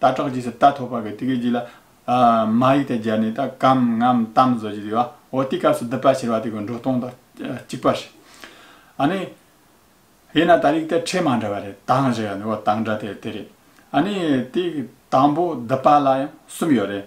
རྟ་བྲག་རྗེས་སུ་རྟ་ཐོག་པ་གི་ཏི་ཀའི་རྗེས་ལ། མ་ཡིག་དང་སྦྱར་ནས་ད་གམ་ངམ་གཏམ་བཟོ་རྒྱུ་དེ་བ་འོ་དེའི་སྐབས་སུ་བསྡུ་པ་ཕྱིར་བ་དེ་གོ་འགྲོ་སྟོང་དང་གཅིག་པ་ཞིག། ཨ་ནི། དབྱེ་ན་ད་རིགས་དེ་ཕྲད་མ་འདྲ་བ་རེད་དང་བཞི་ཡོད་འོ་དང་འདྲ་དེ་དེ་རེད། ཨ་ནི། དེའི་དང་པོ་བསྡུ་པ་ལ་ཡང་གསུམ་ཡོད་རེད།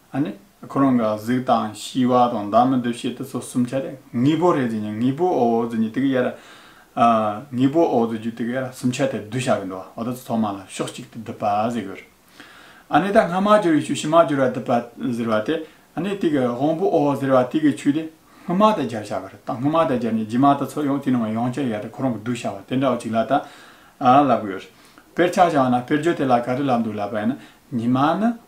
ཨ་ནི། ཁོ་རང་གི་གཟུགས་དང་ཤི་བ་དང་བདག་མི་འདུ་ཤེས་དེ་ཚོ་གསུམ་ཆ་ལས་དངོས་པོ་རེད་ཟེར་ནས་དངོས་པོ་ཨོ་ཨོ་ཟེར་ནས་དེ་གི་ཡ་ར། དངོས་པོ་ཨོ་ཨོ་ཟེར་རྒྱུ་དེ་གི་ཡ་ར་གསུམ་ཆ་དེ་བསྡུ་བྱ་གི་འདུག་བ་ད་ཚོ་ཐོག་མ་ལ་ཕྱོགས་གཅིག་ཏུ་བསྡུ་བ་ཟེར་གི་རེད། ཨ་ནི་ད་སྔ་མ་གྱུར་བའི་ཆུ་ཕྱི་མ་གྱུར་བ་བསྡུ་བ་ཟེར་བ་དེ་ཨ་ནི་དེ་གི་དབང་པོ་ཨོ་ཨོ་ཟེར་བ་དེ་གི་ཆུ་དེ་སྔོན་མ་དེ་སྦྱར་བྱ་གི་རེད་ད་སྔོན་མ་དེ་སྦྱར་ནས་རྗེས་མ་ད་ཚོ་ཡང་དེ་ནང་ཡང་བསྐྱར་ཡ་ར་ཁོ་རང་གི་བསྡུ་བྱ་བ་དེ་འདྲ་བ་ཅིག་ལ་ད་ལབ་གི་ཡོད་རེད། དཔེར་ཆ་བྱ་བ་ན་དཔེར་བརྗོད་དེ་ལ་ག་རེ་ལབ་འདུག་ལབ་པ་ཡིན་ན་ཉི་མ་ནི།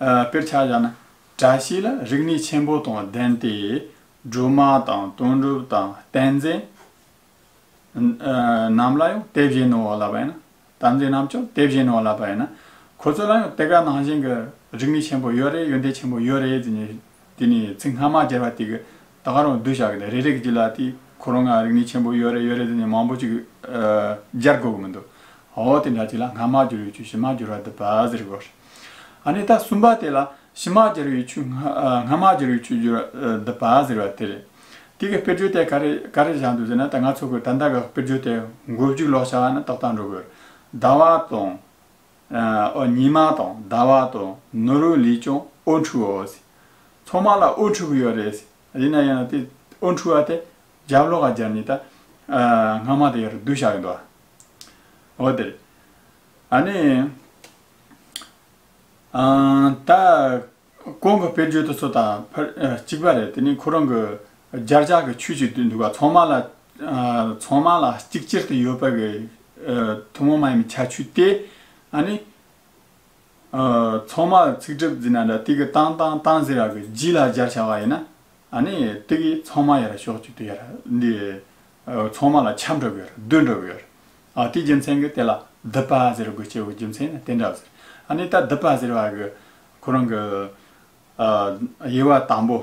དཔེར་ཆ་བཞག་ན་བཀྲ་ཤིས་ལ་རིག་གནས་ཆེན་པོ་དང་ལྡན་ཏེ། སྒྲོལ་མ་དང་དོན་གྲུབ་དང་བསྟན་འཛིན། རྣམས་ལ་ཡང་དེ་བཞིན་ནོ་ལབ་པ་ཡིན། དམ་འཛིན་རྣམས་ཀྱང་དེ་བཞིན་ནོ་ལབ་པ་ཡིན། ཁོ་ཚོ་ལ་ཡང་དེ་ག་ནང་བཞིན་གྱི་རིག་གནས་ཆེན་པོ་ཡོད་རེད་ཡོན་ཏན་ཆེན་པོ་ཡོད་རེད་ཅེས་ནས་དེ་ནས་ཚིག་སྔ་མ་སྦྱར་བ་དེ་གི་ད་ག་རང་སྡོད་བྱ་གི་འདུག་རེ་རེ་གི་ཅི་ལ་དེ་ཁོ་རང་ང་རིག་གནས་ཆེན་པོ་ཡོད་རེད་ཡོད་རེད་ཟེར་ནས་མང་པོ་ཅིག་སྦྱར་དགོས་གི་མི་འདུག་ཧོ་དེ་འདྲ་ཅིག་ལ་སྔ་མ་སྦྱོར་ཡོད་ཆུ་ཕྱི་མ་སྦྱོར་བ་འདི་བ་ཟེར་དགོས་རེད། ཨ་ནི་ད་གསུམ་པ་དེ་ལ་ཕྱི་མ་སྦྱར་ཡོད་ཆུ་སྔ་མ་སྦྱར་ཡོད་ཆུ་སྦྱོར་བ་འདི་བ་ཟེར་བ་དེ་རེད། དེ་གི་དཔེར་བརྗོད་དེ་ག་རེ་ག་རེ་བཞག་འདུག་ཟེར་ན་ད་ང་ཚོ་གི་ད་ལྟ་གི་དཔེར་བརྗོད་དེ་མགོ་མཇུག་ལོག་བྱ་བ་ནི་ཏོག་ལྟར་འགྲོ་གི་རེད། ཟླ་བ་དང། ཨོ་ཉི་མ་དང་ཟླ་བ་དང་ནོར་བུ་ལས་ཀྱང་ཨོ་འཁྲུག་འོ། ཚང་མ་ལ་ཨོ་འཁྲུག་གི་ཡོད་རེད། ཡིན་ན་ཡང་དེ་ཨོ་འཁྲུག་བ་དེ་རྒྱབ་ལོག་ག་རྒྱབ་ནས་ད་སྔ་མ་དེ་ཡར་བསྡུ་བཞག་ཡོད་འདུག་ཨོ་དེ་རེད། ཨ་ནི། ད། ཀོང་གི་དཔེར་བརྗོད་དུ་སོ་དང་ཕར་གཅིག་པ་རེད་དེ་ནི་ཁོ་རང་གི་སྦྱར་བྱ་གི་ཆོས་ཅིག་ཏུ་འདུག་ག་ཚང་མ་ལ་ཚང་མ་ལ་གཅིག་གྱུར་དུ་ཡོད་པ་གི་ཐུན་མོང་མ་ཡིན་པའི་ཁྱད་ཆོས་ཏེ། ཨཱ་ནི། ཚང་མ་ཚིག་གྲུབ་ཟེར་ན་འདྲ་ཏིག་གི་ཏང་ཏང་ཏང་ཟེར་བ་གི་རྗེས་ལ་སྦྱར་བྱ་བ་ཡིན་ན། ཨཱ་ནི། ཏིག་གིས་ཚང་མ་ཡར་ཤོག་ཅིག་ཏུ་ཡར་འདི་ཚང་མ་ལ་ཁྱབ་འགྲོ་གི་ཡོད་རེད་སྡོད་འགྲོ་གི་ཡོད་རེད། དེའི་རྒྱུ་མཚན་གྱི་དེ་ལ་དིབ་པ་ཟེར་དགོས་ཆེའི་དགོས་རྒྱུ་མཚན་ནི་དེ་འདྲ་བ་ཟེར། ཨཱ་ནི་ད་དིབ་པ་ཟེར་བ་གི། ཁོ་རང་གི། དབྱེ་བ་དང་པོ།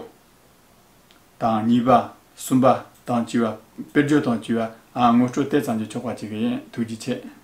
དང་གཉིས་པ། གསུམ་པ། དང་བཅུ་བ། དཔེར་བརྗོད་དང་བཅུ་བ། ངོ་སྤྲོད་དེ་ཙམ་གྱིས་ཆོག་པ་ཅིག་ཡིན་ཐུགས་རྗེ་ཆེ།